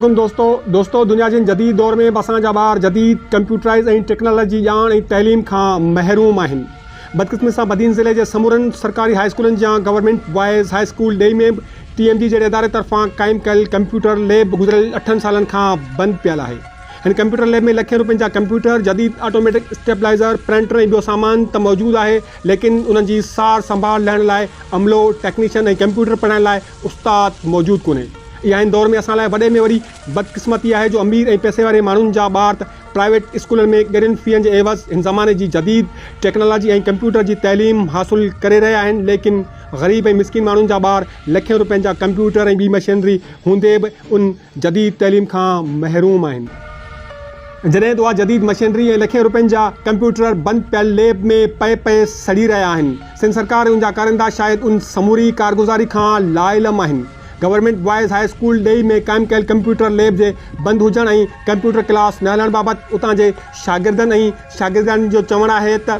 عليڪم دوستو دوستو دنيا جي هن جديد دور ۾ به اسان جا ٻار جديد ڪمپيوٽرائز ۽ ٽيڪنالاجي ڄاڻ ۽ تعليم کان محروم آهن بدقسمتي سان بدين ضلعي جي سمورن سرڪاري هاء اسڪولن جيان گورنمينٽ بوائز هاء اسڪول ڊيئي ۾ به ٽي ايم جي جهڙي اداري طرفان قائم ڪيل ڪمپيوٽر ليب گذريل اٺن سالن کان بند پيل آهي هن ڪمپيوٽر ليب ۾ لکين روپين جا ڪمپيوٽر جديد آٽوميٽڪ اسٽيبلائزر پرنٽر ۽ ٻيو سامان ته موجود آهي ليڪن انهن جي سار سنڀال لهڻ لاء عملو ٽيڪنيشن ۽ ڪمپيوٽر پڙهائڻ لاء استاد موجود ڪونهي. اها هن دور ۾ اسان لاء وڏي ۾ وڏي بدقسمتي آهي جو امير ۽ پئسي واري ماڻهن جا ٻار ته پرائيويٽ اسڪولن ۾ ڳرين فين جي عيوض هن زماني جي جديد ٽيڪنالاجي ۽ ڪمپيوٽر جي تعليم حاصل ڪري رهيا آهن ليڪن غريب ۽ مسڪين ماڻهن جا ٻار لکين روپين جا ڪمپيوٽر ۽ ٻي مشينري هوندي به ان جديد تعليم کان محروم آهن. جڏهن ته اها جديد مشينري ۽ لکين روپين جا ڪمپيوٽر بند پيل ليب ۾ پئي پئي سڙي رهيا آهن. سنڌ سرڪار ۽ ان جا ڪارندا شايد ان سموري ڪارگذاري کان لاعلم آهن. گورنمينٽ بوائز هاء اسڪول ڊيئي ۾ قائم ڪيل ڪمپيوٽر ليب جي بند هجڻ ۽ ڪمپيوٽر ڪلاس نه هلڻ بابت اتان جي شاگردن ۽ شاگردياڻين جو چوڻ آهي ته،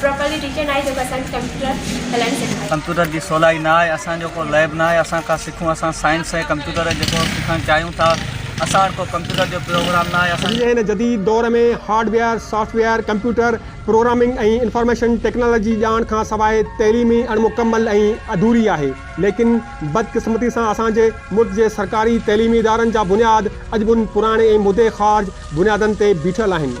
پراپرلي ٽيچر ناهي جيڪو اسان کي ڪمپيوٽر هلائڻ سيکاري. ڪمپيوٽر جي سولائي نه آهي اسان جو ڪو ليب نه آهي اسان کان سکون اسان سائنس ۽ ڪمپيوٽر جيڪو سکڻ چاهيون ٿا اسان وٽ ڪو ڪمپيوٽر جو پروگرام نه آهي اسان. اڄ جي هن جديد دور ۾ hardware, software, computer, programming ۽ information technology ڄاڻ کان سواء تعليم ئي اڻ مڪمل ۽ اڌوري آهي ليڪن بدقسمتي سان اسان جي ملڪ جي سرڪاري تعليمي ادارن جا بنياد اڄ به ان پراڻي ۽ مدي خارج بنيادن تي بيٺل آهن.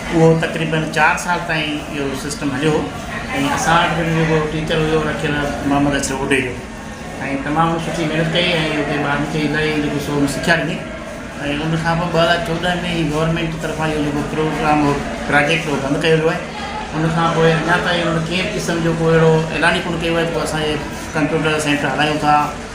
اهو تقريبن چار سال تائين اهو سسٽم هليو هو ۽ اسان وٽ به جيڪو ٽيچر هيو رکيل محمد اشرف اوڍي جو ۽ تمام ان سٺي محنت ڪئي ۽ اتي ٻارن کي الاهي جيڪو سو ان سکيا ڏني ۽ ان کان پوء ٻه هزار چوڏهن ۾ هي گورنمينٽ طرفان اهو جيڪو پروگرام هو پراجيڪٽ هو بند ڪيو ويو آهي ان کان پوء اڃا تائين ان ڪنهن به قسم جو ڪو اهڙو اعلان ئي ڪونه ڪيو ويو آهي ڪو اسان هي ڪمپيوٽر سينٽر هلايون ٿا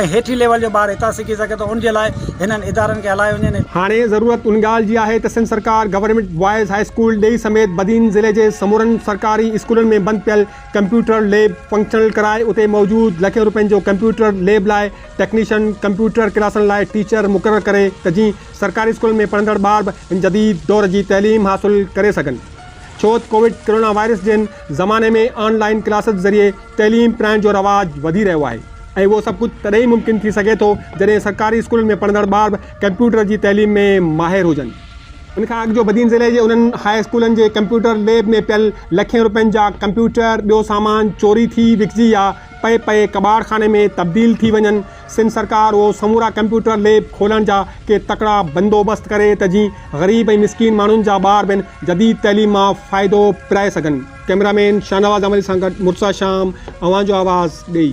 ۽ هيٺين ليول جو ٻار هتان سکي سگهي ٿو ان جي لاء هنن ادارن کي هلايو وڃي ۽. هاڻي ضرورت ان ڳالهه جي آهي ته سنڌ سرڪار گورنمينٽ بوائز هاء اسڪول ڏيئي سميت بدين ضلعي جي سمورن سرڪاري اسڪولن ۾ بند پيل ڪمپيوٽر ليب فنڪشنل ڪرائي اتي موجود لکين روپين جو ڪمپيوٽر ليب لاء ٽيڪنيشن ڪمپيوٽر ڪلاسن لاء ٽيچر مقرر ڪري ته جيئن سرڪاري اسڪولن ۾ پڙهندڙ ٻار به هن جديد دور جي تعليم حاصل ڪري سگهن. ڇو تھ ڪووڊ ڪرونا وائرس جھڙن زماني ۾ آن لائين ڪلاسز ذريعي تعليم پرائڻ جو رواج وڌي رھيو آھي ۽ اھو سڀ ڪجھھ تڏھن ئي ممڪن ٿي سگھي ٿو جڏھن سرڪاري اسڪولن ۾ پڙھندڙ ٻار بھ ڪمپيوٽر جي تعليم ۾ ماھر ھجن. ان کان اڳ جو بدين ضلعي جي انھن ھاء اسڪولن جي ڪمپيوٽر ليب ۾ پيل لکين رپين جا ڪمپيوٽر ٻيو سامان چوري ٿي وڪجي يا پئي پئي ڪٻاڙ خاني ۾ تبديل ٿي وڃن، سنڌ سرڪار اهو سمورا ڪمپيوٽر ليب کولڻ جا ڪي تڪڙا بندوبست ڪري ته جيئن غريب ۽ مسڪين ماڻهن جا ٻار به ان جديد تعليم مان فائدو پرائي سگهن. ڪئميرا مين شاهنواز آمري سان گڏ مرتضيٰ شام اوهان جو آواز ڏيئي.